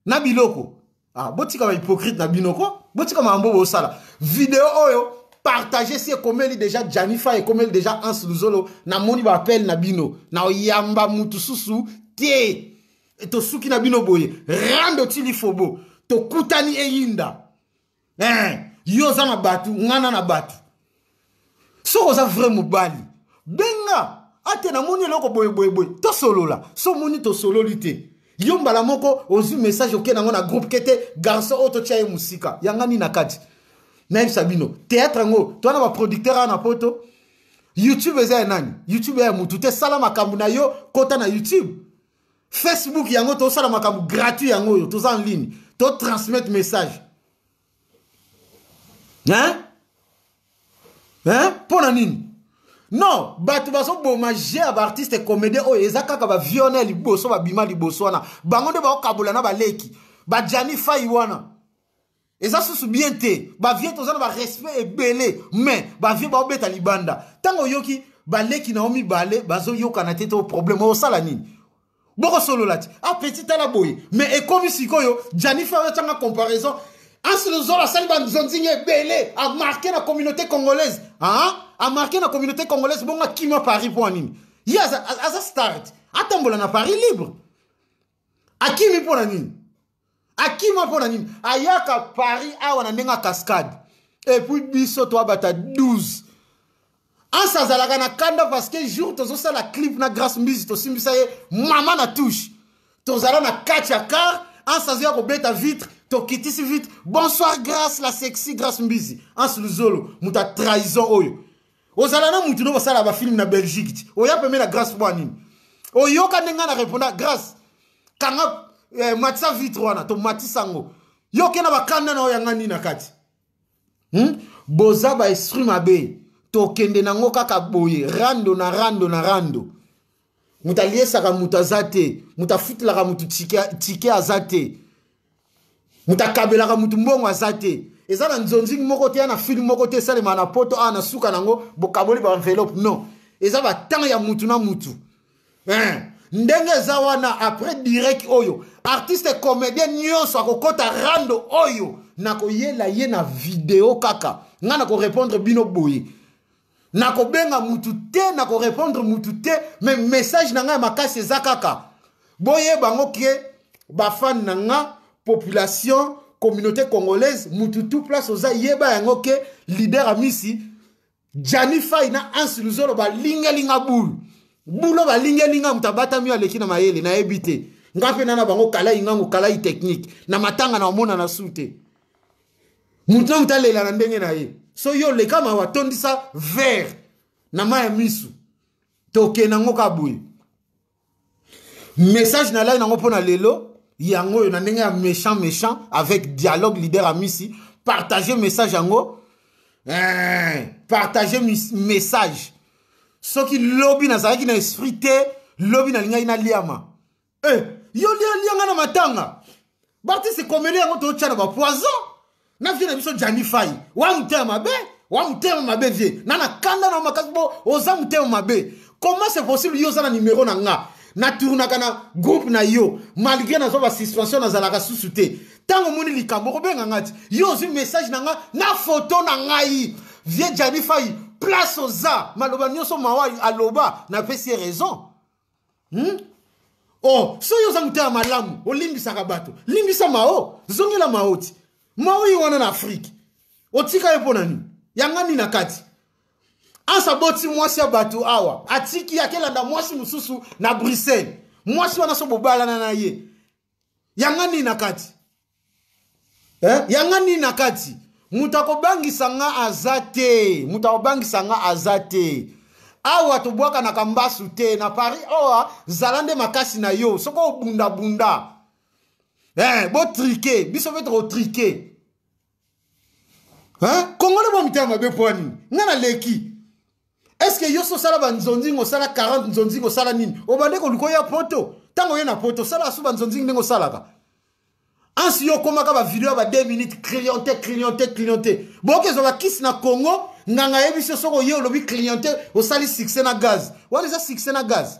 na biloko ah, botika ba hypocrite na bino ko botika makambo bosala video oyo partage si ekomeli deja janifa ekomeli deja ans luzolo namoni baapele na bino na oyamba mutu susu te tosuki na bino boye rando tilifobo tokutani eyinda eh, yo oza na bato ngana na bato soki oza vrai mobali benga ate namoni eloko boyeboyeboye tosolola so moni tosololi te yo mbala moko ozwi message oke nango na groupe ke te garçon oyo totya ye mosika yanga nini na kati nayebisa bino théâtre yango to wana baproducteur awa na poto youtube eza ya nani youtube ya motu te sala makambo na yo kota na youtube facebook yango tosala makambo gratuit yango oyo toza en ligne totransmettre message hein hein mpo na nini non bato bazoboma je ya baartiste comédien oyo eza kaka baviona ya liboso babima liboso wana bango nde bakokabola na baleki bajani fai wana eza susu bien te bavie toza na barespect ebele mais bavie baobeta libanda ntango oyoki baleki na yo mibale bazoyokana te to problème osala nini bokosolola ti ah petit tala boye mais ekomi sikoyo janifer atyanga comparaison ansilozolo asali banzonzingi ebele amarke na communauté congolaise aa amarke na communauté congolaise bongo akima paris mpo ya nini ye aza, aza start atambola na paris libre akimi mpo na nini akima mpo na nini ayaka paris awa na ndenge ya cascade epuis biso toabata 12 anse azalaka na kanda parce que jour tozosala clip na grace mbizi tosimbisa ye mama na touche tozala na kati ya car anse azoya kobeta vitre tokitisi vitre bonsoir grace la sexy grace mbizi anse luzolo moto ya trahison oyo ozala na mutu no bosala ba film na belgique ti oya peme na grace mpo nini oyoka nde ngai na reponda grace kanga eh, matisa vitre wana tomatisa yango yo ke na bakanda na oyo yanga nini na kati hmm? boza baesprit mabe tokende nango kaka boye rando na rando na rando moto aliesaka moto aza te moto afutelaka moto tike aza te moto akabelaka moto mbongo aza te eza na nzonzingi moko te ya na filme moko te esalemaka na poto awa na suka na yango bokaboli baenveloppe non eza batemp ya motu na motu eh, ndenge eza wana après direct oyo artiste comédien nyonso akokɔta rando oyo nakoyela ye na video kaka ngai nakorepondre bino boye nakobenga mutu te nakorepondre mutu te me message na ngai ya makasi eza kaka boyeba yango ke bafane na nga population communauté congolaise mutu tout place oza yeba yango ke leader amisi jani fai na ansi luzolo balingelinga bulu bulo balingelinga moto abatami aleki na mayele nayebi te ngai mpe na na bango kalai ngango kalai technique na matanga na omona na su te moto na moto alela na ndenge na ye so yo leka mawa tondisa vere na mai ya misu toke nango ka boye message nalaki nango mpo na lelo yango oyo na ndenge ya méchant méchant avec dialogue leader amisi partage message yango eh, partage message soki lobi nazalaki na esprit te lobi nalingaki naliama eh, yo lia lia nga na matanga baartiste komele yango totya na bapoison na vie na biso jani fai wa motema mabe wa motema mabe vie na na kanda na makasi bo oza motema mabe comment c'est possible yo oza na numero na nga natournaka na groupe na yo malgré nazwa basuspension nazalaka susu te ntango omoni likambo okobenga nga ti yo ozwi message na nga na foto na ngai vie jani fai place oza maloba nyonso mawa aloba napesi ye raison hmm? oh soki oza motema malamu olimbisaka bato limbisa mao zongela maoti mao ye wana na afrike otika ye mpo na nini yanga nini na kati anse aboti mwasi ya bato awa atiki akelanda mwasi mosusu na bruxelles mwasi wana so bobalana na ye yanga nini na kati eh? yanga nini na kati moto akobangisa nga aza te moto akobangisa nga aza te awa tobwakanaka mbasu te na paris owa oh, zala nde makasi na yo soki obundabunda eh, botrike biso mpe tokotrike kongole mwa mitema mabe mpo ya nini ngai naleki estce yo so osala banzonzingi osala 40 nzonzingi osala nini obande koluka oya poto ntango oye na poto osala asu banzonzingi ndenge osalaka ansi yo okomaka bavideo ya ba 2 minutes cliente cliente cliente boyoki ezwa bakisi na congo nganga ayebisi yo soki oye olobi cliente osali succès na gaz wana eza succès na gaz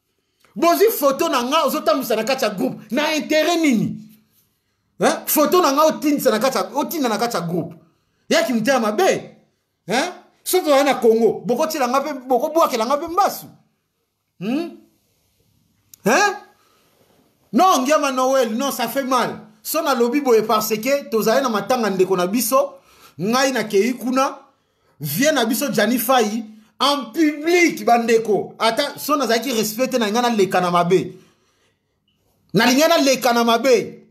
bozwi foto na ngai ozotambwisa na kati ya groupe na intere nini eh? foto na ngai otindisa na kati otinda na kati ya groupe yaki motema mabe eh? soki ozali na congo bokotiela ngai mpe bokobwakela ngai mpe mbasu hmm? eh? non ngiama noel non ça fait mal so nalobi boye parce que tozali na matanga ndeko na biso ngai nakei kuna vieux na biso Gianni Fayi en public bandeko ata so nazalaki respect te na ngai naleka na mabe nalingi naleka na mabe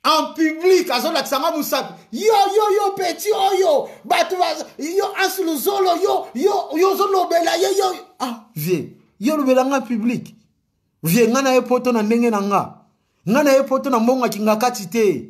en public azolakisa nga mosapi yo yo yo peti oyo bato yo ansiluzolo yo yo yo ozolobela ye yo ah vie yo olobela nga public vie nga na ye poto na ndenge na nga nga na ye poto na mbongaki nga kati te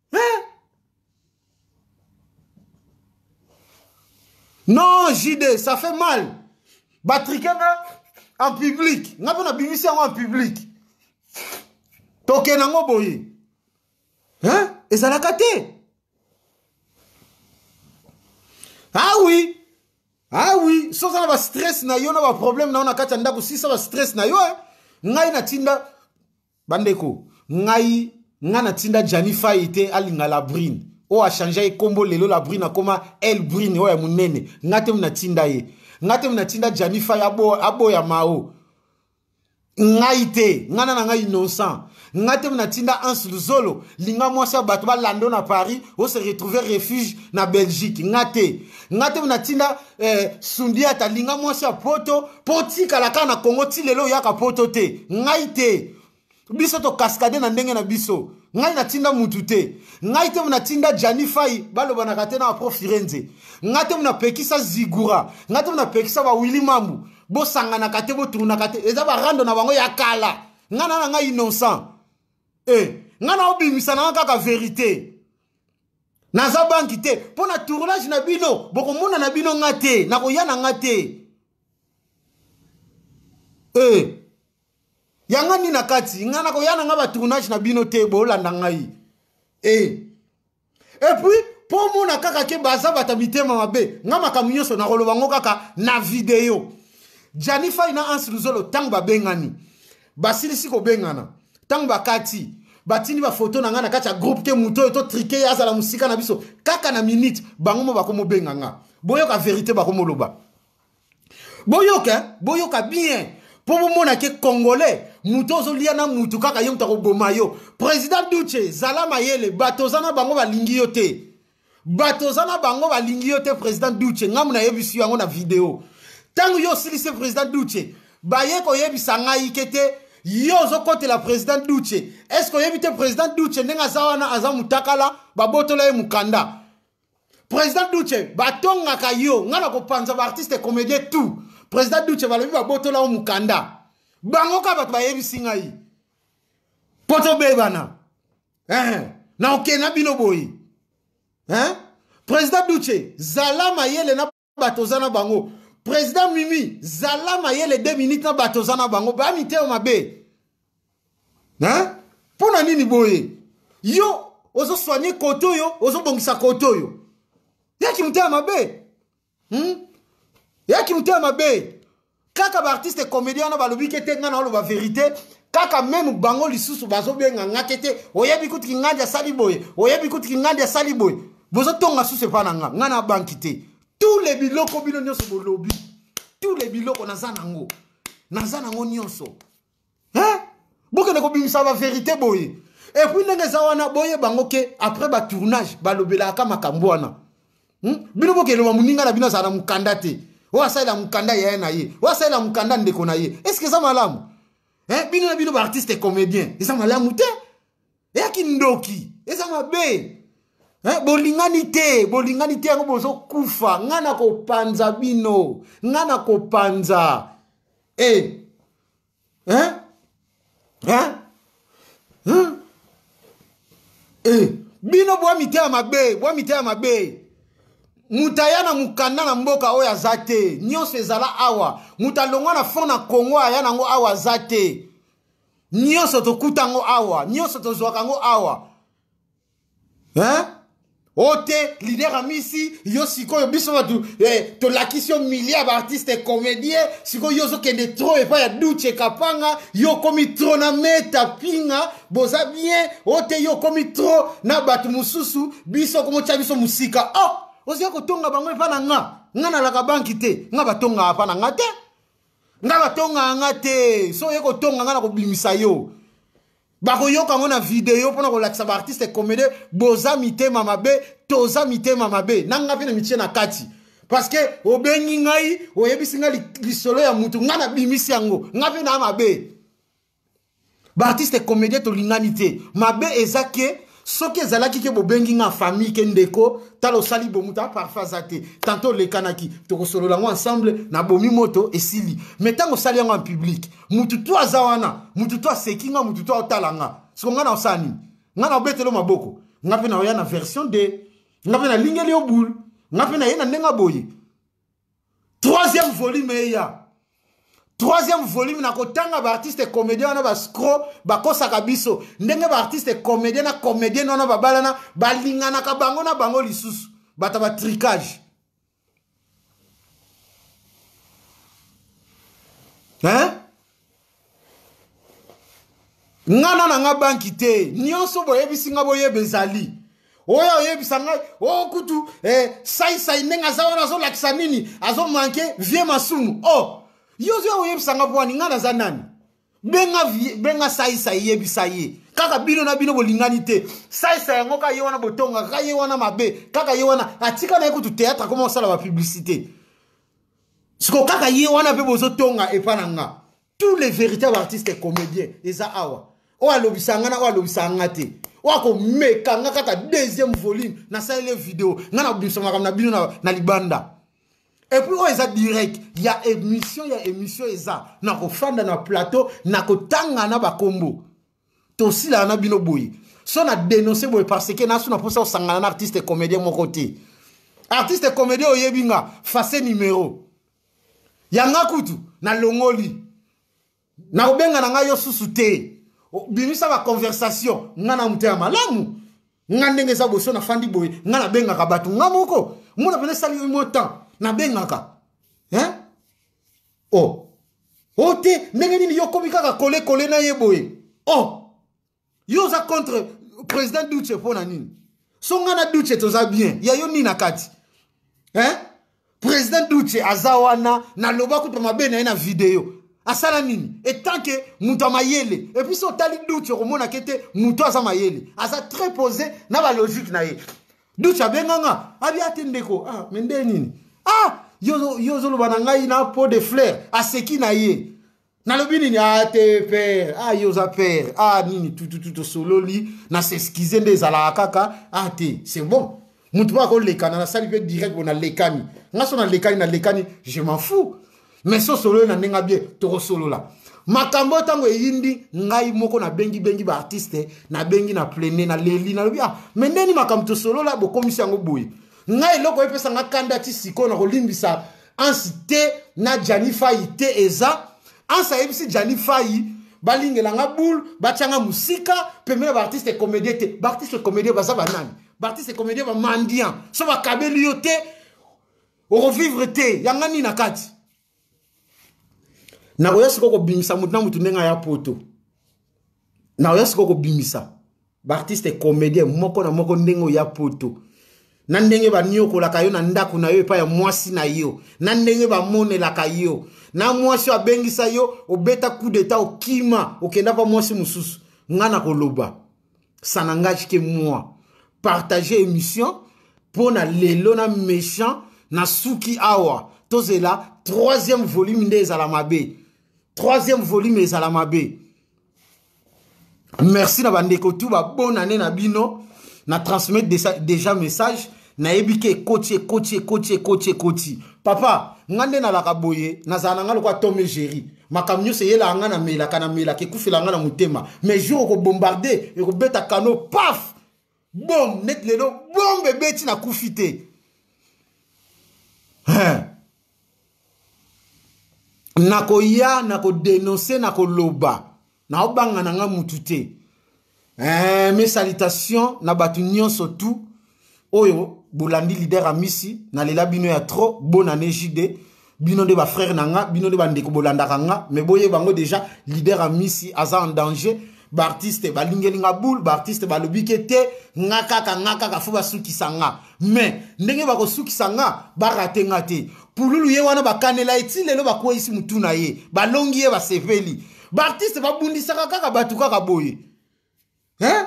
eh? non jide ça fait mal batrike nga en public nga mpe nabimisi yango en public tokenda yango boye hein? ezalaka te ah oui ah oui soki oza na bastress na yo na baproblème na yo na kati ya ndako sisa bastress na yo eh? ngai natinda bandeko ngai ngai natinda jani fai te alinga la brune oyo achangeaki nkombo lelo la brune akoma el brune oyo ya monene ngai te natinda ye ngai te natinda jani fai aboya, aboya mao ngai te ngai na ngai innocent ngai te natinda anse luzolo linga mwasi ya bato balando na paris ose retrouver refuge na belgique ngai te nga te natinda eh, sundiata linga mwasi ya poto mpo otikala kaka na kongo ti lelo oyaka poto te ngai te biso tokaskade na ndenge na biso ngai natinda mutu te ngai te natinda jani fai balobanaka te na apro firenze ngai te napekisa zigura ngai te napekisa bawili mambu bosanganaka te botunaka te eza barando na bango ya kala ngai na na ngai innocent e eh, ngai na obimisa na ngai kaka verite naza banki te mpo na tournage na bino bokomona na bino nga te nakoya na nga te e eh. yanga nini na kati nga nakoya na nga batournage na bino te bolanda ngai e eh. epuis mpo omona kaka ke baza bata mitema mabe nga makambo nyonso nakoloba ngo kaka na video janifai na anse luzolo ntango babengani basilisi kobengana ntango bakati batindi bafoto na ngai na kati ya groupe te moto oyo totrike ye azala mosika na biso kaka na minute bango mo bakomobenga nga boyoka verité bakomoloba boyoka eh? boyoka bien mpo bomona ke congolais moto ozolia na motu kaka ye moto akoboma yo président duce zala mayele bato oza na bango balingi yo te bato oza na bango balingi yo te président duce ngambo nayebisi yo yango na video ntango yo osilisi président duce baye koyebisa ngai ke te yo ozokotela président duce est ce que oyebi te président duce ndenge aza wana aza motakala babotola ye mokanda président duce batongaka yo ngai nakopanza baartiste comédien tout président duce balobi babotola yo mokanda bango kaka bato bayebisi ngai mpo tobebana eh, na oke na bino boye eh? président duce zala mayele na bato oza na bango président mimi zala mayele 2 minutes na bato oza na bango baya mitema mabe eh? mpo na nini boye yo ozosoigne kote oyo ozobongisa kote oyo yaki motema mabe hmm? eyaki motema mabe kaka baartiste comédien wana balobi ke te ngai naoloba verité kaka meme bango lisusu bazobenga nga te te oyebi kutu kingandi asali boye oyebi kutu kingandi asali boye bozotonga susu epai na nga ngai na banki te tous les biloko bino nyonso bolobi tous les biloko naza nango naza nango nyonso hein bokende kobimisa baverité boye epuis ndenge eza wana boye bango ke après batournage balobelaka makambo wana hmm? bino bokeloba moninga na bino azala na mokanda te oyo asalela mokanda yaya na ye oyo asalela mokanda ndeko na ye estce eza malamu eh, bino na bino baartiste comédien eza malamu te eya kindoki eza mabe eh, bolingani te bolingani te yango bozokufa ngai nakopanza bino ngai nakopanza e eh. eh? eh? eh? eh? bino bwa mitema mabe bwa mitema mabe moto aya na mokanda na mboka oyo aza te nyonso ezala awa moto alongwa na fond na congo aya nango awa aza te nyonso tokuta yango awa nyonso tozwaka yango awa hein? o te lider amisi yo sikoyo biso bato eh, tolakisi yo milliard baartiste comédien sikoyo yo ozokende tro epai ya duce kapanga yo okomi tro na meta pinga boza bien o te yo okomi tro na bato mosusu biso okomotya biso mosika o oh, ozoya kotonga bango epai na nga nga nalaka banki te nga batongaka epai na nga te nga batongaka nga te so oye kotonga nga na kobimisa yo bakoyoka yango na video mpo na kolakisa baartiste comédie boza mitema mabe toza mitema mabe na nga mpe na mitie na kati parce que obengi ngai oyebisi ngai lisolo ya motu ngai nabimisi yango ngai mpe naa mabe baartiste comédien tolingani te mabe eza ke soki ezalaki ke bobengi nga famille ke ndeko tala osali bomu ta parfum aza te tanto olekanaki tokosolola yango ensemble na bomi moto esili me ntango osali yango en public mutu to aza wana mutu to aseki nga mutu to aotala nga soko nga na osala nini nga na obetelo maboko nga mpe naoya na version de nga mpe nalingeli yo boule nga mpe naye na ndenge aboye troisième volume eya troisième volume na kotanga baartiste comédien wana bascro bakosaka biso ndenge baartiste comédien na comédienne wana babalana balinganaka bango na bango lisusu bato ya batricage hein nga na na nga banki te nyonso boyebisi nga boyeba ezali oyo oyebisa ngai o oh, kutu eh, saisai ndenge aza wana azolakisa nini azomanke vie masumu o oh, yo ozoya koyebisa nga bwani ngai naza nani benga, benga saisai yebisa ye kaka bino na bino bolingani te saisa yango kaka ye wana botongaka kaka ye wana mabe kaka ye wana atika na ye kutu théâtre akoma kosala bapublicité siko kaka ye wana mpe bozotonga epa na nga tous les véritables artistes comédien eza awa oyo alobisa nga na oyo alobisa nga te oyo akomeka nga kaka deuxième volume nasaleli video nga nabimisa makambo na bino na, na libanda epuis oyo eza direct ya émission ya émission eza nakofanda na plateau nakotanga na bakombo tosilaka na bino boye so na denonce boye parce que nasu na mposa kosangana na artiste comédien moko te artiste comédien oyebi nga face numero yanga kutu nalongoli nakobenga na ngai yo susu te bimisa baconversation nga na moto ya malamu nga ndenge eza boso nafandi boye nga nabengaka bato nga moko mona pena esali mwa temps nabengaka hein? o oh. o oh, te ndenge nini yo okomi kaka kolekole na ye boye o oh. yo oza contre président duce mpo na nini so nga na duce toza bien ya yo nini na kati hein? président duce aza wana naloba kuta mabe na ye na video asala nini etant ke moto ya mayele epuis so otali duce okomonaka ete moto aza mayele aza très posé na balogique na ye duce abenganga abi ate ndeko ah, me nde nini ah, yo ozoloba na ngai na po de flair aseki na ye nalobi nini a te pere a yo oza pere a nini tututu tosololi na s'excuse nde ezalaka kaka a te c'est bon motu mpo akolekana nasali mpe direct bo nalekani nga so nalekani nalekani je m'en fou mais so osololi na ndenge bie tokosolola makambo oyo ntango eyindi ngai moko nabengibengi baartiste nabengi na plene naleli nalobi ah me ndeni makambo tosolola bokomisi yango boye ngai eloko epesa nga kanda ti sikoyo na kolimbisa ansi te na jani fayi te eza ansi ayebisi jani fayi balingela nga boule batya nga mosika pembe na baartiste comédien te baartiste comédien baza banani baartiste comédien bamandian so bakabeli yo te okovivre te yanga nini na kati nakoya sikoyo kobimisa motu na motu ndenge aya poto nakoya sikoyo kobimisa baartiste comedien moko na moko ndenge oya poto na ndenge baniokolaka yo na ndako na yo epai ya mwasi na yo na ndenge bamonelaka yo na mwasi oyo abengisa yo obeta coup d'etat okima okenda kwa mwasi mosusu ngai nakoloba ça n'engage que moi partage émission mpo na lelo na méchant na suki awa tozela troisième volume nde ezala mabe troisième volume ezala mabe merci na bandeko tu babona ne na bino na transmettre déjà, déjà message nayebi ke ekoti ekoti ekoti ekoti ekoti papa nga nde nalaka boye nazala na nga lokola tome géri makambo nyonso eyelaka nga namelaka namelaka ekufela nga na motema mais jour okobombarde ekobeta kano paf bom neti lelo bombe ebeti na kufi te nakoya nakodenonse nakoloba naobanga na nga mutu te eh, mes salutations na bato nyonso tout oyo bolandi lider amisi nalela bino ya trop bonane jde bino nde bafrère na nga bino nde bandeko bolandaka nga mais boyeba yango déjà leader amisi aza en danger baartiste balingeli nga boule baartiste balobi ke te nga kaka nga kaka fo basukisa nga mais ndenge bakosukisa nga barate nga te pululu ye wana bakanela ye ti lelo bakweyisi motu na ye balongi ye basepeli baartiste babundisaka kaka bato kaka boye hein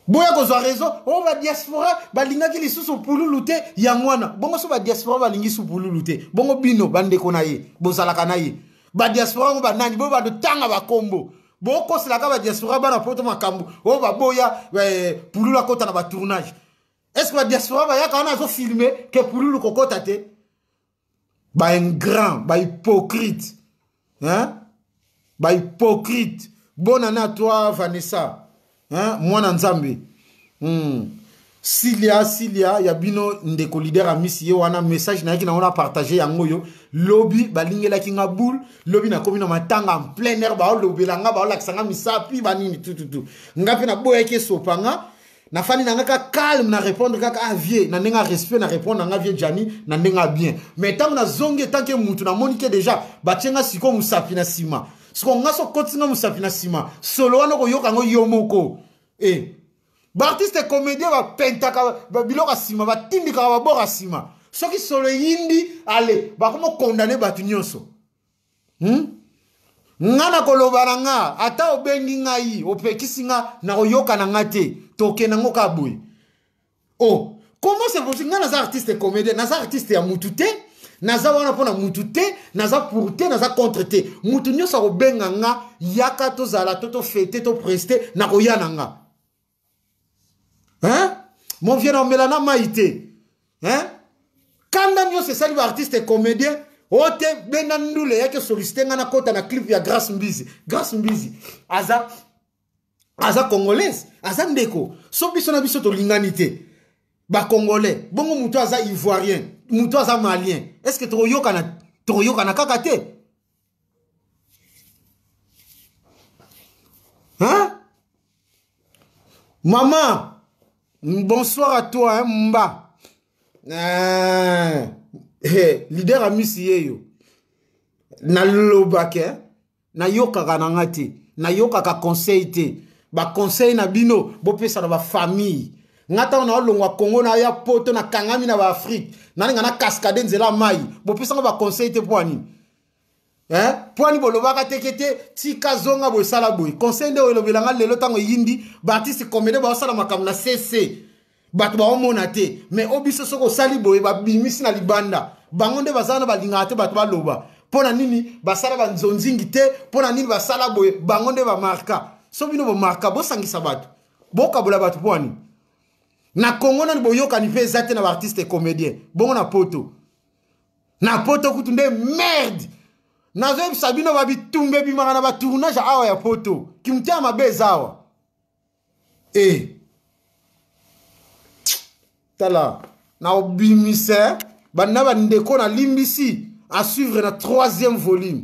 boya kozwa raison o oh, badiaspora balingaki lisusu pululu te yango wana bongo so badiaspora balingi su pululu te bongo bino bandeko na ye bozalaka na ye badiaspora yango banani boyo bandotanga bakombo bokoselaka badiaspora bana poto makambo oyo oh, baboya eh, pululu akota na batournage est ce que badiaspora bayaka wana azofilme ke pululu kokota te ba ingrant ba hypocrite hein? ba hypocrite bonne année à toi vanessa hein? mwana nzambe hmm. silia silia ya bino ndeko leader amisi ye wana message nayaki nango na partage yango oyo lobi balingelaki nga boule lobi nakomi na matanga en plein air baolobela nga baolakisa nga misapi banini tututu nga mpe naboyaki esopa nga na fani na nga ka calme na répondre kaka ah vieux na ndenge respect na répondre na nga vieux Gianni na ndenge bien mais ntango nazongi etanke mutu namoni ke déjà batie nga sikoyo mosapi na nsima siko nga so kotisi nga mosapi na nsima solo wana okoyoka yango yo moko e eh. baartiste comédien bapentaka biloko ya nsima batindikaka baboko ya nsima soki solo eyindi ale bakoma kondane bato nyonso hmm? nga nakoloba na nga ata obengi ngai opekisi nga nakoyoka na nga te tokenda ngo kaka boye o oh, comment c'est possible nga naza artiste comédien naza artiste ya mutu te naza wana mpo na mutu te naza pour te naza contre te mutu nyonso akobenga nga yaka tozala to tofete topreste nakoya na nga hein mon vieux naomela na mai te hein kanda nyonso esali baartiste comédien o te benga ndule yaki esolisite ngai nakɔta na clip ya grace mbizi grace mbizi aza aza congolaise aza ndeko so biso na biso tolingani te bacongolais bongo moto aza ivoirien moto aza malien est ce que tokoyokana tokoyokana kaka te Hein? Maman, bonsoir à toi, hein, Mba. Euh, hey, leader amisi ye yo. Nalobaka, hein? nayokaka na nga te nayokaka conseil te baconseil na bino bopesa na bafamille nga ntango naolongwa congo naya poto nakangami na baafrike nalinga na cascade nzela mai bopesa nga baconseil te mpo ya nini eh? mpo ani bolobaka teke te tika zonga boye sala boye conseil nde oyo elobela ngai lelo ntango eyindi baartiste comédien baosala makambo na cc bato baomona te mais o biso soki osali boye babimisi na libanda bango nde baza wana balingaka te bato baloba mpo na nini basala banzonzingi te mpo na nini basala boye bango nde bamarka so bino bomarka bosangisa bato bokabola bato mpo ani na kongo nani boyokani mpe eza te na baartiste comédien bongo na poto na poto kutu nde merde nazoyebisa bino babitumba ebimaka na batournage awa ya poto kimotema mabe eza awa e eh. tala na obimisa banda bandeko nalimbisi asuivre na troisième volume